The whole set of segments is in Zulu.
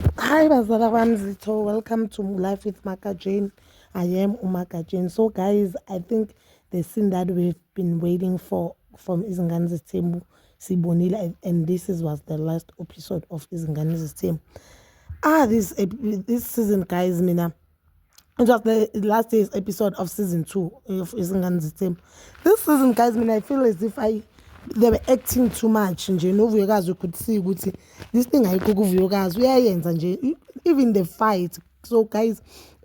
Hi bazala bami zitho welcome to life with Maka Jane I am uMaka Jane so guys I think the scene that we've been waiting for from izingane zesithembu sibonile and this is was the last episode of izingane zesithembu ah this this season guys mina It was the last day's episode of season two of Izingane Zithembu. This season, guys, I mean, I feel as if I they were acting too much nje novuyokazi could see ukuthi this thing ayikho kuvuyokazi uyayenza nje even the fight so guys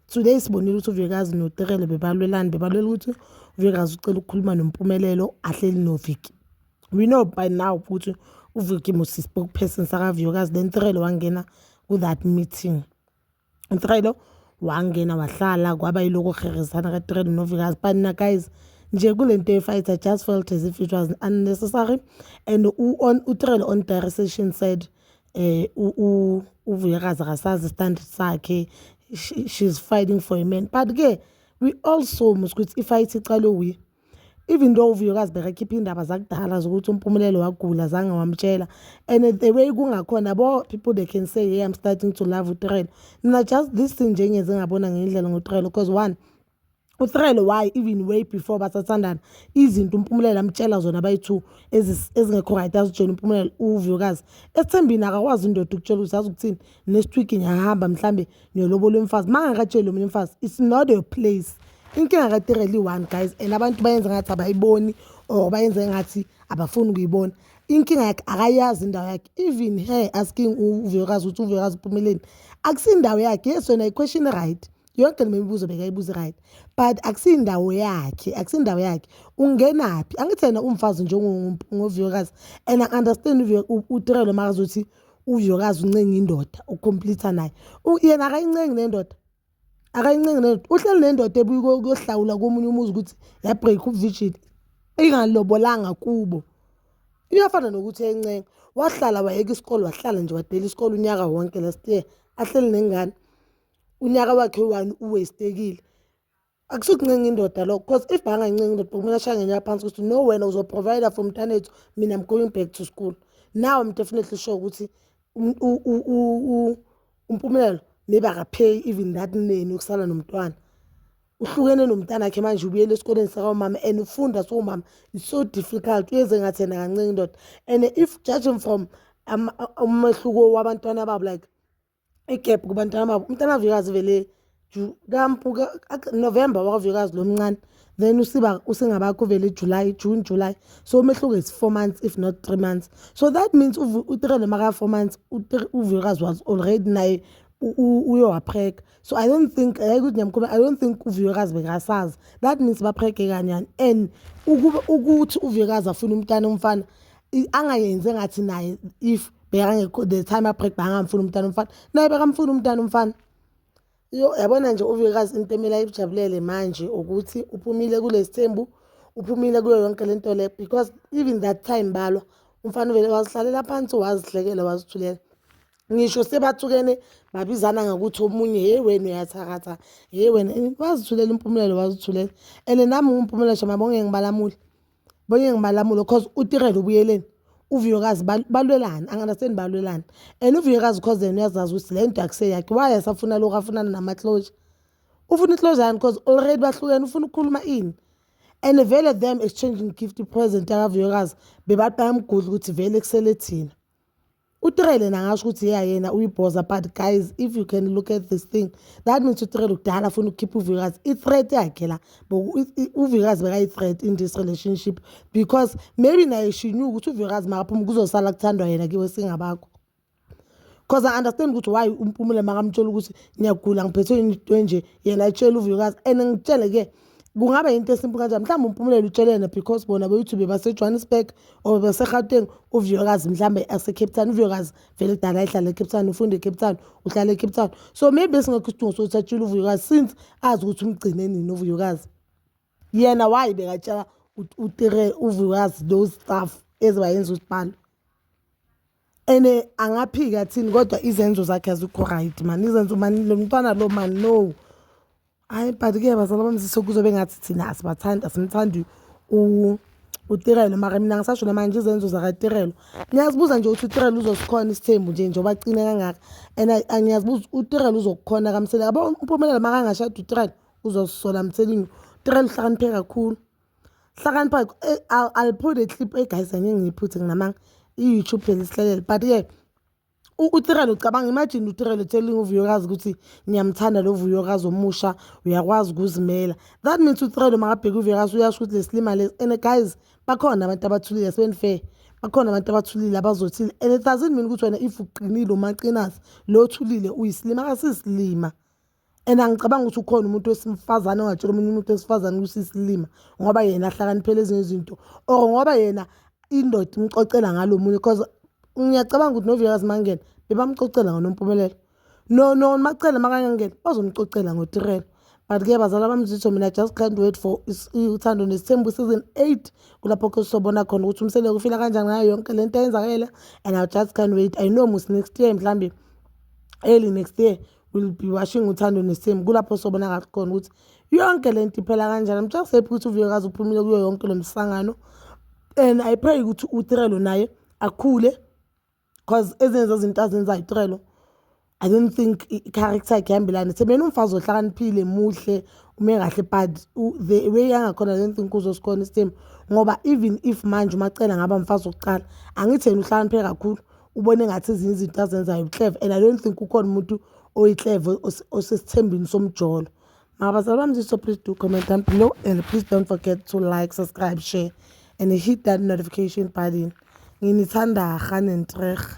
today sibonile ukuthi uvuyokazi noterele bebalwelani bebalwela ukuthi uvuyokazi ucela ukukhuluma nompumelelo ahleli noviki we know by now ukuthi uviki musispoke person sakavuyokazi then terele wangena ku-that meeting utrelo wangena wahlala kwaba yiloko kuherizana katrelo novikazi banina guys nje kule nto yefight i just felt as if it was unnecessary and utrelo on dire session said um uvuyakazi akasazi standard sakhe she's fighting for a man but-ke we also must ukuthi ifight iqalwe wuye even though uvuyokazi bekakhipha iy'ndaba zakudala zokuthi umpumelelo wagula zange wamtshela and the way kungakhona bo people they can say hey i'm starting to love utrelo mina just this thing nje ngeze ngabona ngendlela ngotrelo because one utrelo why even way before basathandana izinto umpumelelo amtshela zona bayi-two ezingekho right azitshela umpumelelo uvuyokazi esithembini akakwazi indoda ukutshela ukuthi azi ukuthini next week ngiyahamba mhlawumbe niyolobola umfazi uma ngakatsheli omunye umfazi it's not your place inkinga katireli one guys and abantu bayenza ngathi abayiboni or bayenza ngathi abafuni ukuyibona inkinga yakhe akayazi indawo yakhe even her asking uvuyokazi ukuthi uvuyokazi uphumeleni akusindawo yakhe yes yona iquestion right yonke le mibuzo bekayibuza right but akusindawo yakhe akusindawo yakhe ungenaphi angithi yena umfazi njengovuyokazi and i understand utirelo makazothi uViyokazi uncenga indoda ucompleta naye yena akayincengi nendoda akayincengi nendoda uhleli nendoda ebuye kuyohlawula komunye umuzi ukuthi yabreak ubuvigil ingalobolanga kubo iyafana nokuthi encenga wahlala wayeka isikole wahlala nje wadela isikole unyaka wonke last year ahleli nengane unyaka wakhe one uwestekile akusukuncenga indoda lokho because if angancenga indoda kumele ashaya ngenyaya phansi ukuthi no wena uzoprovider for mntanethu mina i'm going back to school now i'm definitely sure ukuthi umpumelelo maybe akapheyi even that neni ukusala nomntwana uhlukene nomntana khe manje ubuyele esikoleni sakamama and ufunda siwumama it's so difficult uyenze ngathi yena kancenge indoda and if judging from umehluko wabantwana babo like i-gap kubantwana babo umntana avikazi vele kampu november wakavikazi lo mncane then usiba usengabakho vele july june july so umehluko is four months if not three months so that means utirele maka-four months uvikazi was already naye uyowapheka so i don't think ayike ukuthi ngiyamkhuluma i don't think uvikazi bekasazi that means bapheke kanyani and ukuthi uvikazi afuna umntana umfana angayenzi engathi naye if bekangekho the time abreak bangamfuni umntana umfana naye bekamfuni umntana umfana yo yabona nje uvikazi into emele ayibujabulele manje ukuthi uphumile kulesi thembu uphumile kuyo yonke le nto le because even that time balwa umfana uvele wazihlalela phansi wazihlekela wazithulela ngisho sebathukene babizana ngokuthi omunye hey wena uyathakatha hey wena wazithulela impumulelo wazithulela and nami ngumphumela shama bonge ngibalamule bonye ngimalamulo cause utirelo ubuyeleni uvuyokazi balwelani anganaseni balwelani and uvuyokazi cause yena uyazazi ukuthi le nto akuse yakhe why asafuna lokhu afunana nama-closure ufuna i-closure yani cause already bahlukene ufuna ukukhuluma ini and vele them exchanging gift present akavuyokazi bebathi bayamgudla ukuthi vele kusele thina uTrele nangasho ukuthi yeah yena uyibhoza but guys if you can look at this thing that means uTrele kudala afuna ukukhipha uvikazi i-threat yakhe la uvikazi bekayi-threat in this relationship because maybe naye shinyuka ukuthi uvikazi makaphuma kuzosala kuthandwa yena kiwe singabakho because i understand ukuthi why umpumule makamtshela ukuthi ngiyagula ngiphethwe into enje yena etshela uvikazi and ngitshele-ke kungaba yinto esimple kanjani mhlawumbe umpumelelo utshelene because bona be-youtube basejohannesburg or beserhateng uviyokazi mhlawumbe asecape town uviyokazi vele kudala ehlala ecape town ufunda ecape town uhlala ecape town so maybe esingekho isidingo sokuthi atshile uvuyokazi since azi ukuthi umgcine nini uvuyokazi yena wayi bekatshela utire uvuyokazi those stuff ezibayenza ukuthi balo and eh, angaphika thini kodwa izenzo zakhe azikho right mani izenzo mani lo mntwana lo mani no hayi but ke bazala bami sise kuzobe ngathi thina asibathandi asimthandi utirelo mara mina ngisasho namanje izenzo zakatirelo niyazibuza nje ukuthi utirelo uzosikhona isithembu nje njengoba aqine kangaka and ngiyazibuza utirelo uzokukhona kamsele yabo umpumelelo makangashada utirelo uzozisola mthelini utirelo uhlakaniphe kakhulu hlakanipha eh, i'll put a clip eguys eh, angengiyiphuthe nginamanga i-youtube phela isihlalele but-ke utirelo cabanga imagine utirelo telling uvuyokazi ukuthi ngiyamthanda lo vuyokazi omusha uyakwazi ukuzimela that means utirelo makabheke uvuyokazi uyasho ukuthi lesilima lesi and guys bakhona abantu abathulile sebenifehe bakhona abantu abathulile abazothile and it doesn't mean ukuthi wena if uqinile umaqinasi lo othulile uyisilima kasisilima and angicabangi ukuthi ukhona umuntu wesimfazane ongatshela omunye umuntu wesifazane ukuthi isilima ngoba yena ahlakaniphele ezinye izinto or ngoba yena indoda imxoxela ngalo munye because ngiyacabanga ukuthi novilakazi mangena bebamxoxela ngonompumelelo no no macele makangangena bazomxoxela ngotirelo but ke bazala bamzitho mina just can't wait for uthando nesithembu season eight kulapho ke sobona khona ukuthi umseleko ufila kanjani ngayo yonke le nto eyenzakele and i just can't wait i know mus next year mhlawumbe early next year will be washing uthando nesithembu kulapho sobonakala khona ukuthi yonke le nto iphela kanjani mtsha kusephi ukuthi uviyokazi uphumile kuyo yonke lo msangano and i pray ukuthi utrelo naye akhule because ezinye zezinto azenzayo utrelo i don't think i-character yakhe ihambelane sebena umfazi ohlakaniphile muhle ume kahle but the way yangakhona i don't think uzosikhona isithembu ngoba even if manje umacela ngaba mfazi wokuqala angithi yena uhlakaniphile kakhulu ubona engathi ezinye izinto azenzayo ubuhleva and i don't think kukhona umuntu oyihleva osesithembini somjolo mabazali bami so please do comment down below and please don't forget to like subscribe share and hit that notification button nginithanda rhanentrerh